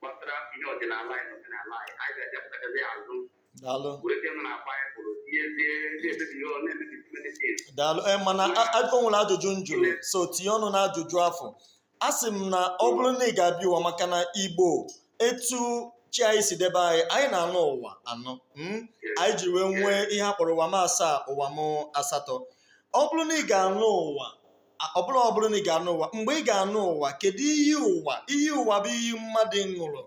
gbasara ihe ọdịnala anyị na omenala anyị anyị ga-abịapụtakasị ya azụ daalụ were ike nọ na baịbụl tinyezie na-emebi ihe ọ na-emebi medicine daalụ ee mana a- a- o nwere ajụjụ m jụrụ so tinye ọnụ na ajụjụ afụ a sị m na ọ bụrụ na ị ga-abịa ụwa maka na igbo etu chi anyị si debe anyị anyị na-anọ ụwa anọ mm? anyị ji wee nwee ihe a kpọrọ ụwa m asaa ụwa m asatọ ọ bụrụ na ị ga-anọ ụwa ọ bụrụ ọ bụrụ na ị ga-anọ ụwa mgbe ị ga-anọ ụwa kedu iyi ụwa iyi ụwa bụ iyi mmadụ ṅụrụ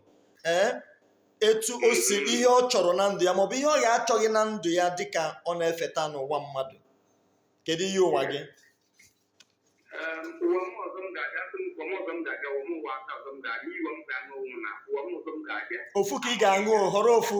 ee etu o si ihe ọ chọrọ na ndụ ya maọbụ ihe ọ ya-achọghị na ndụ ya dịka ọ na-efeta n'ụwa mmadụ kedu iyi ụwa gị ụwa m ọzọ m ga-aga sị m ụwa m ọzọ m ga-aga ụwa m ụwa aka ọzọ m ga-aga iyi m ga-aṅụ ụwa na ụwa m ọzọ m ga-aga ofu ka ị ga-aṅụ họrọ ofu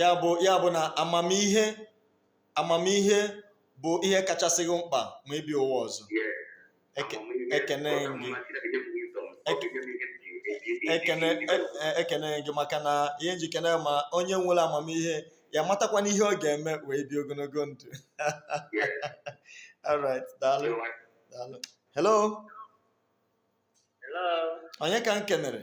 ya bụ ya bụ na amamihe amamihe bụ ihe kachasị gị mkpa ma ị bịa ụwa ọzọ Eke- ekene gị ekene e- e- ekene m gị maka na ihe m ji kene ma onye nwere amamihe ya-amatakwanụ ihe ọ ga-eme wee bie ogologo ndụ alright daalụ daalụ hello Hello. onye ka m kenere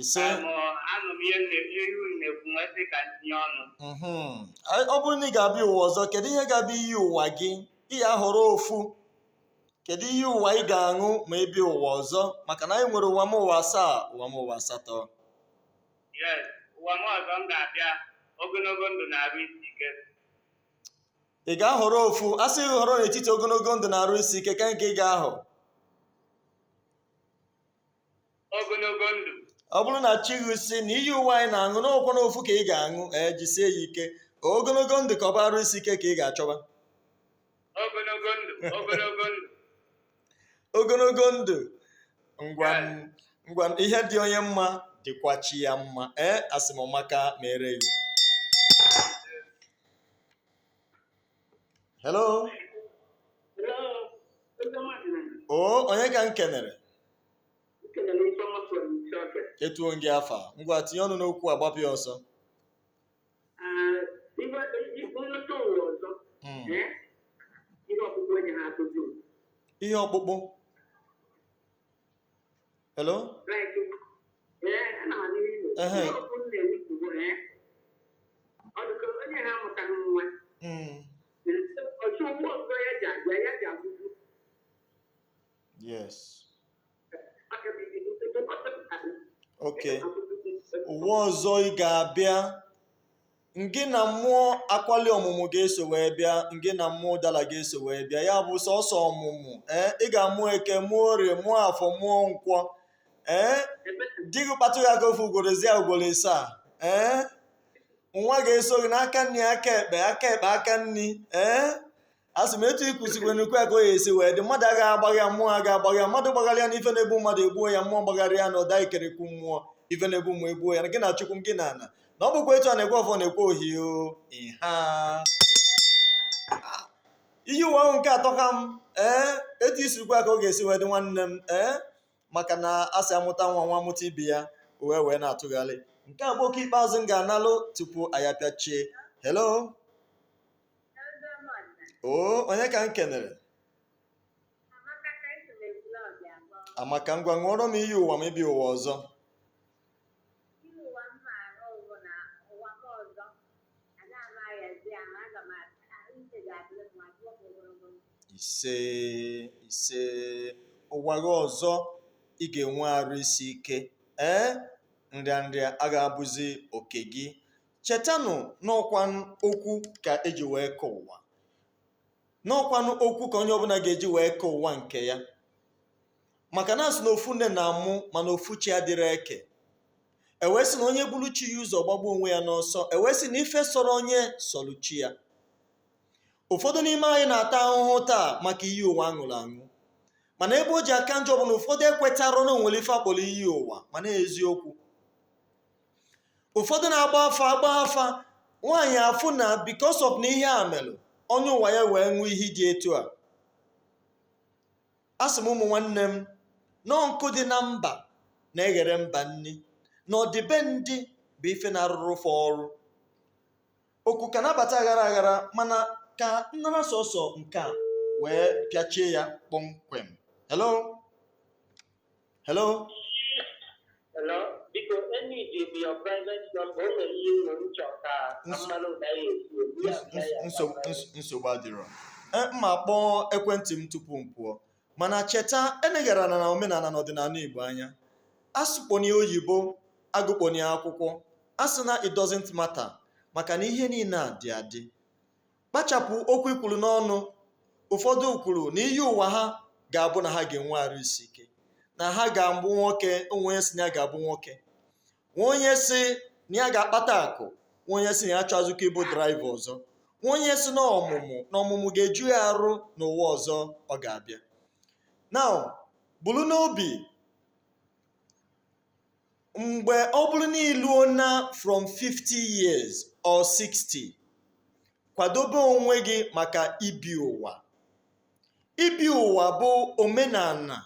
ise Ka mụ anụ m ihe na- ihe unu na-ekwu m wee sị ka m tinye ọnụ mhm. Anyị- ọ bụrụ na ị ga-abịa ụwa ọzọ kedu ihe ga-abụ iyi ụwa gị ị ya-ahọrọ ofu kedu iyi ụwa ị ga-aṅụ ma ị bịa ụwa ọzọ maka na anyị nwere ụwa m ụwa asaa ụwa m ụwa asatọ yes ụwa m ọzọ m ga-abịa ogologo ndụ na arụ isi ike ị ga-ahọrọ ofu a sị gị họrọ n'etiti ogologo ndụ na arụ isi ike ka nke ị ga-ahọ ogologo ndụ ọ bụrụ na chi gị sị na iyi ụwa anyị na-aṅụ na ọ kwanụ ofu ka ị ga-aṅụ ee jisie ya ike ogologo ndụ ka ọ bụ arụ isi ike ka ị ga-achọba ogologo ndụ ogologo ndụ ogologo ndụ ngwa m- ngwa m, ihe dị onye mma dịkwa chi ya mma ee asị m maka mere gị hello o onye ka m kenere etuo m gị afa ngwa tinye ọnụ n'okwu a gbapịa ọsọ Mm. ihe ọkpụkpụ hello ehe Mm. yes okay ụwa ọzọ ị ga-abịa ngị na mmụọ akwali ọmụmụ ga-eso wee bịa ngị na mmụọ ụdala ga-eso wee bịa ya bụ sọsọ ọmụmụ ee ị ga-amụ eke mụọ orie mụọ afọ mụọ nkwọ ee di gị kpatụ gị aka ofu ugboro ezi ya ugboro isaa ee nwa ga-eso gị n'aka nni aka ekpe aka ekpe aka nni ee asị m etu ịkụzikwe n'ukwe ka ọ ya-esi wee dị mmadụ agaghị agbagha ya mmụọ agaghị agbagha ya mmadụ gbagharịa ya na ife na-egbu mmadụ egbuo ya mmụọ gbagharịa ya na ụda ikerekwu mmụọ ife na-egbu mmụọ egbuo ya na gị na chukwu m gị na ana na ọ bụkwa etu a na-ekwe ọfọ na-ekwe ohio ịha iyi ụwa ahụ nke atọ ka m ee etu i si kwuo ka ọ ga-esi wee dị nwanne m ee maka na a sị amụta nwa nwa amụta ibe ya o wee wee na-atụgharị nke a bụ oku ikpeazụ m ga-analụ tupu anyị apịachie hello oo onye ka m kenere amaka ngwa ṅụọrọ m iyi ụwa ma ị bịa ụwa ọzọ isee isee ụwa gị ọzọ ị ga-enwe arụ isi ike ee nrịanrịa agaghị abụzi oke gị chetanụ n'ọkwanụ okwu ka eji wee kee ụwa n'ọkwanụ okwu ka onye ọbụla ga-eji wee kee ụwa nke ya maka na asị na ofu nne na-amụ mana ofu chi adịrọ eke ewee sị na onye buru chi ya ụzọ ọ gbagbuo onwe ya n'ọsọ ewee sị na ife sọrọ onye sọrọ chi ya ụfọdụ n'ime anyị na-ata ahụhụ taa maka iyi ụwa aṅụrụ aṅụ mana ebe o ji aka njọ bụ na ụfọdụ ekwetarọ na onwere ife akpọrọ iyi ụwa mana eziokwu ụfọdụ na-agba afa agba afa nwaanyị afụ na because of na ihe a melụ onye ụwa ya wee ṅụọ ihe dị etu a asị m ụmụ nwanne m na nkụ dị na mba na-eghere mba nni na ọdịbendị bụ ife na-arụrụ fa ọrụ oku ka na-abata aghara aghara mana ka m nara sọsọ nke a wee pịachie ya kpọmkwem hello hello Hello, biko enyi ji bi your private number o nwere ihe nwere uche ọka Ns- mmanụ ụda ya esi obi ya Ns- ns- nsogbu ns- nsogbu adịrọ E, m ma-akpọ ekwentị m tupu m pụọ mana cheta elegharana omenala na ọdịnala igbo anya asụkpọnie oyibo agụkpọnie akwụkwọ asị na it doesn't matter maka na ihe niile a dị adị kpachapụ okwu i kwuru n'ọnụ ụfọdụ kwuru na iyi ụwa ha ga-abụ na ha ga-enwe arụ isi ike na ha ga-abụ nwoke o nwee onye si na ya ga-abụ nwoke nwee onye si na ya ga-akpata akụ nwee onye si na ya achọọzịkwa ịbụ draiva ọzọ nwee onye si na ọmụmụ na ọmụmụ ga-eju ya arụ n'ụwa ọzọ ọ ga-abịa na buru n'obi mgbe ọ bụrụ na iluo na from 50 years or 60 kwadobe onwe gị maka ibi ụwa ibi ụwa bụ omenala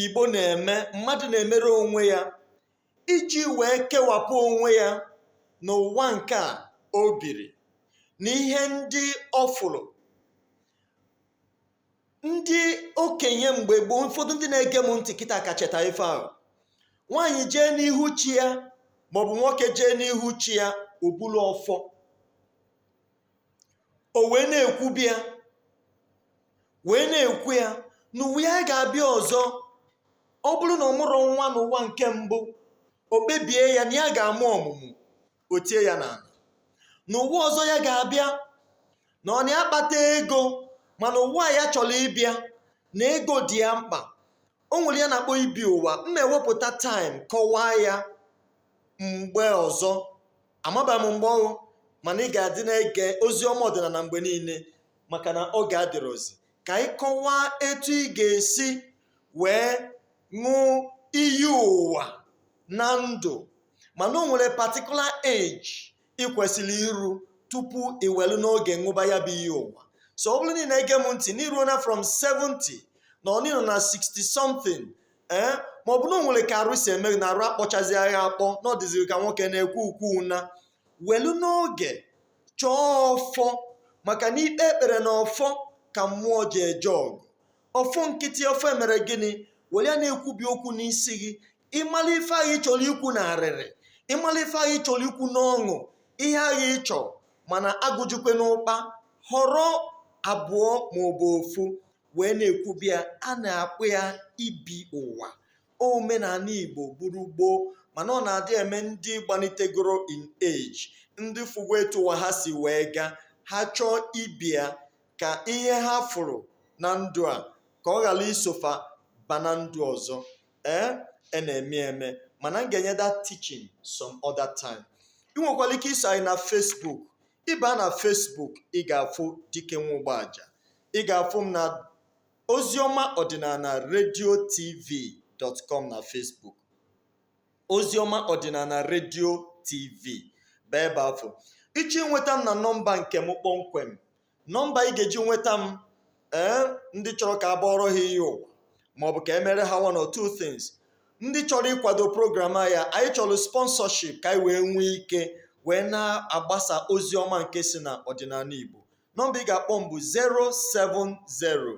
igbo na-eme mmadụ na-emere onwe ya iji wee kewapụ onwe ya n'ụwa nke a o biri na ihe ndị ọ fụrụ ndị okenye mgbe gboo ụfọdụ ndị na-ege m ntị kịta ga-echeta ife ahụ nwaanyị jee n'ihu chi ya maọbụ nwoke jee n'ihu chi ya o bulu ọfọ o wee na-ekwubi ya wee na-ekwu ya n'ụwa ya ga-abịa ọzọ ọ bụrụ na ọ mụrụ ofu nwa n'ụwa nke mbụ o kpebie ya na ya ga-amụ ọmụmụ o tie ya n'ala n'ụwa ọzọ ya ga-abịa na ọ naghị akpata ego mana ụwa ya chọrọ ịbịa na ego dị ya mkpa o nwere ihe a na-akpọ ibi ụwa m ga-ewepụta time kọwaa ya mgbe ọzọ amaba m mgbe ọ bụ mana ị ga-adị na-ege ozi ọma ọdịnala mgbe niile maka na oge adịrọzi ka anyị kọwaa etu ị ga-esi wee ṅụọ iyi ụwa na ndụ mana o nwere particular age ị kwesịrị iru tupu i welu n'oge ṅụba ya bụ iyi ụwa so ọ bụrụ na ị na-ege m ntị na iruo na from 70 na ọ nọ na 60 something ee ma ọ bụ na o nwere ka arụ si eme na arụ akpọchazi agha akpọ na ọ dịziri ka nwoke na-ekwu okwu ụna welu n'oge chọọ ọfọ maka na ikpe ekpere na ọfọ ka mmụọ ji eje ọgụ ọfọ nkịtị ọfọ e mere gịnị were ya na-ekwubi okwu n'isi gị ịmala ife ahụ ị chọrọ ikwu na arịrị ịmala ife ahụ ị chọrọ ikwu n'ọṅụ ihe ahụ ị chọrọ mana agụjukwana ụkpa họrọ abụọ ma ọ bụ ofu wee na-ekwubi ya a na-akpọ ya ibi ụwa omenala igbo bụrụ gboo mana ọ na-adị eme ndị gbanitegoro in age ndị fụgo etu ụwa ha si wee gaa ha chọọ ibi ya ka ihe ha fụrụ na ndụ a ka ọ ghara iso fa ba na ndụ ọzọ ee a na-eme eme mana m ga-enye that teaching some other time ị nwekwara ike iso anyị na Facebook ịba na Facebook ị ga-afụ dike nwa ụgbọaja ị ga-afụ m na oziọma ọdịnala radio tv dot com na Facebook oziọma ọdịnala radio tv bụ ebe afụ ị chọọ inweta m na nọmba nke m kpọmkwem nọmba ị ga-eji nweta m ee ndị chọrọ ka a bọọrọ ha iyi ụwa maọbụ ka e mere ha one or two things ndị chọrọ ịkwado program a ya anyị chọrọ sponsorship ka anyị wee nwee ike wee na-agbasa ozi ọma nke si na ọdịnala igbo nọmba ị ga-akpọ m bụ 070 070